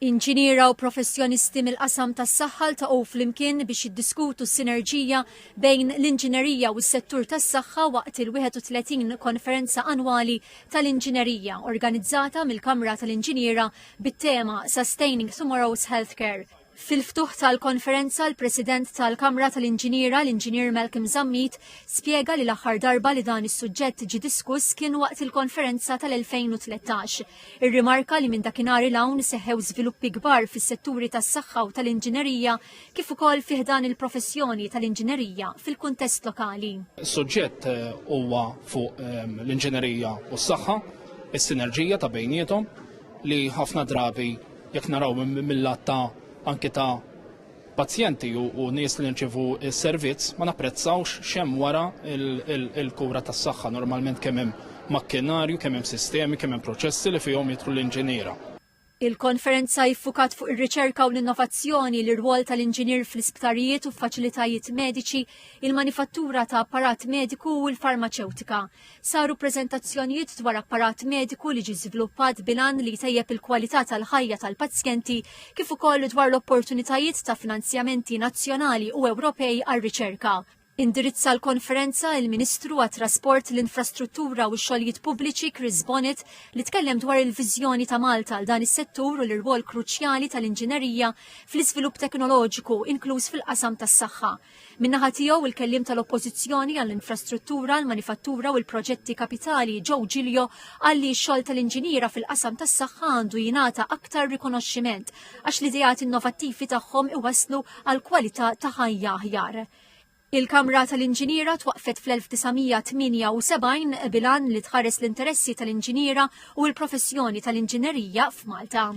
Inġiniera u professjonisti mill-qasam tas-saħħa ltaqgħu flimkien biex jiddiskutu s-sinerġija bejn l-inġinerija u s-settur tas-saħħa waqt il-31 Konferenza Annwali tal-Inġinerija organizzata mill-Kamra tal-Inġiniera bit-tema Sustaining Tomorrow's Healthcare. Fil-ftuħ tal-konferenza, l-President tal-Kamra tal-Inġiniera, l-Inġinier Malcolm Zammit, spjega li l-aħħar darba li dan is-suġġett ġie diskuss kien waqt il-konferenza tal-2013. Irrimarka li minn dakinhar 'il hawn seħħew żviluppi kbar fis-setturi tas-saħħa u tal-inġinerija kif ukoll fi ħdan il-professjoni tal-inġinerija fil-kuntest lokali. Is-suġġett eh, huwa fuq ehm, l-inġinerija u s-saħħa, is-sinerġija ta' bejniethom li ħafna drabi Jekk naraw mil-lat ta' anki ta' pazjenti u nies li nirċievu s-servizz, ma napprezzawx x'hemm wara l-kura tas-saħħa. Normalment kemm hemm makkinarju, kemm hemm sistemi, kemm hemm proċessi li fihom jidħlu l-inġiniera. Il-konferenza iffukat fuq ir-riċerka u l-innovazzjoni, l-irwol tal-inġinier fl-isptarijiet u f'faċilitajiet mediċi, il-manifattura ta' apparat mediku u l-farmaċewtika. Saru preżentazzjonijiet dwar apparat mediku li ġie żviluppat bilan li jtejjeb il-kwalità tal-ħajja tal-pazjenti kif ukoll dwar l-opportunitajiet ta' finanzjamenti nazzjonali u Ewropej għar-riċerka. Indirizza l-konferenza il-Ministru għat-Trasport, l-Infrastruttura u x-Xogħlijiet Pubbliċi Chris Bonnet li tkellem dwar il-viżjoni ta' Malta għal dan is-settur u l-irwol kruċjali tal-inġinerija fl-iżvilupp teknoloġiku inkluż fil-qasam tas-saħħa. Min-naħa tiegħu il-Kelliem tal-Oppożizzjoni għall-Infrastruttura, l-Manifattura u l-Proġetti Kapitali Joe Giglio qal li x-xogħol tal-inġiniera fil-qasam tas-saħħa għandu jingħata aktar rikonoxximent għax l-ideat innovattivi tagħhom iwasslu għal kwalità ta' ħajja aħjar. Il-Kamra tal-Inġiniera twaqfet fl-1978 bilan li tħares l-interessi tal-inġiniera u l-professjoni tal-inġinerija f'Malta.